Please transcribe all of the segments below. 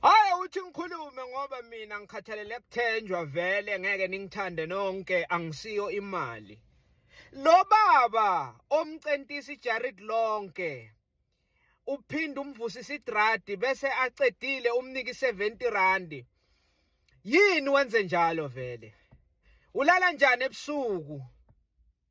Hayi uthi ngikhulume ngoba mina ngikhathalele kuthenjwa vele ngeke ningithande nonke angisiyo imali. Lo baba omcentisa iJared lonke uphinde umvusisa idradi bese acedile umniki 70 rand. Yini wenze njalo vele? Ulala njani ebusuku?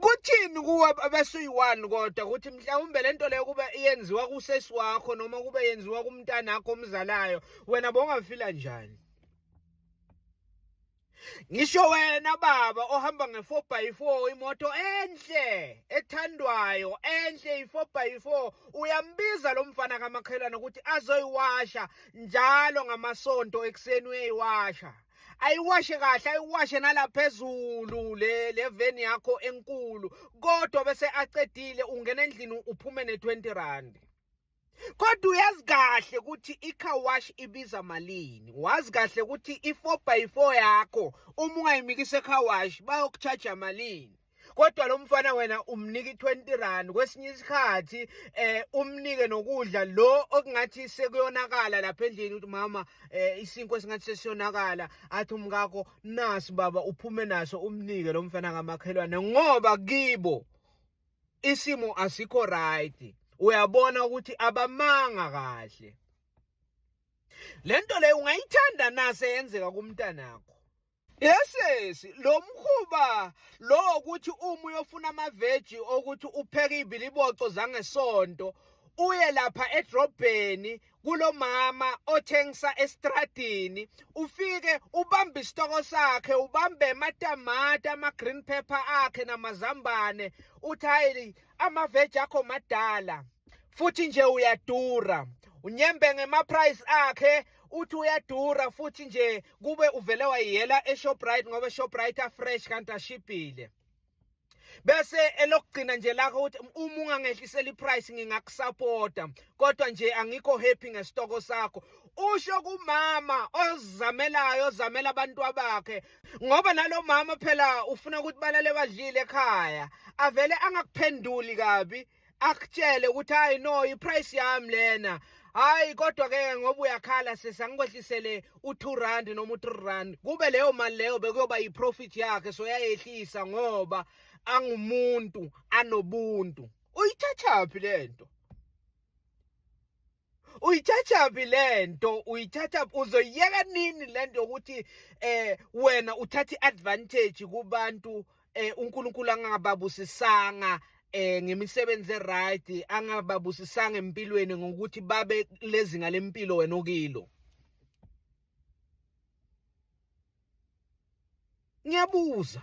kuthini kuwe abesuyi-one kodwa ukuthi mhlawumbe le nto leyo kube yenziwa kusesi wakho noma kube yenziwa kumntanakho omzalayo wena bongafila njani ngisho wena baba ohamba nge-four by four imoto enhle ethandwayo enhle i-four by four uyambiza lo mfana kamakhelwane ukuthi azoyiwasha njalo ngamasonto ekuseni uyayiwasha ayiwashe kahle ayiwashe nalaphezulu le le van yakho enkulu kodwa bese acedile ungena endlini uphume ne 20 rand kodwa uyazi kahle ukuthi i-car wash ibiza malini wazi kahle ukuthi i-4 by 4 yakho uma ungayimikisa e-car wash bayokuchaja malini kodwa lo mfana wena umnike 20 rand kwesinye isikhathi eh umnike nokudla lo okungathi sekuyonakala lapha endlini ukuthi mama eh isinko esingathi sesiyonakala athi umkakho nasi baba uphume naso umnike lo mfana kamakhelwane ngoba kibo isimo asikho right uyabona ukuthi abamanga kahle lento leyo ungayithanda nase yenzeka kumntanakho Yesesi lo mkhuba lo ukuthi uma uyofuna amaveji okuthi upheke ibiliboco zangesonto uye lapha edrobheni kulomama othengisa estradini ufike ubambe isitoko sakhe ubambe amatamati ama-green pepper akhe namazambane uthi hayi amaveji akho madala futhi nje uyadura unyembe ngema-price akhe uthi uyadura futhi nje kube uvele wayiyela eShoprite ngoba eShoprite afresh kanti ashibhile bese elokugcina nje lakho ukuthi uma ungangehlisela iprice ngingakusupporta kodwa nje angikho happy ngesitoko sakho usho kumama ozamelayo ozamela abantu abakhe ngoba nalomama phela ufuna ukuthi balale badlile ekhaya avele angakuphenduli kabi akutshele ukuthi hayi no iprice yami lena hayi kodwa ke ngoba uyakhala sisi angikwehlisele u2 rand noma u3 rand kube leyo mali leyo bekuyoba yiprofit yakhe so yayehlisa ngoba angumuntu anobuntu uyithathaphi lento uyithathaphi le nto uyithathaphi uzoyiyeka nini le nto yokuthi um eh, wena uthathe i-advantage kubantu um eh, unkulunkulu angababusisanga eh ngemisebenzi eright angababusisanga empilweni ngokuthi babe lezinga lempilo wena okilo ngiyabuza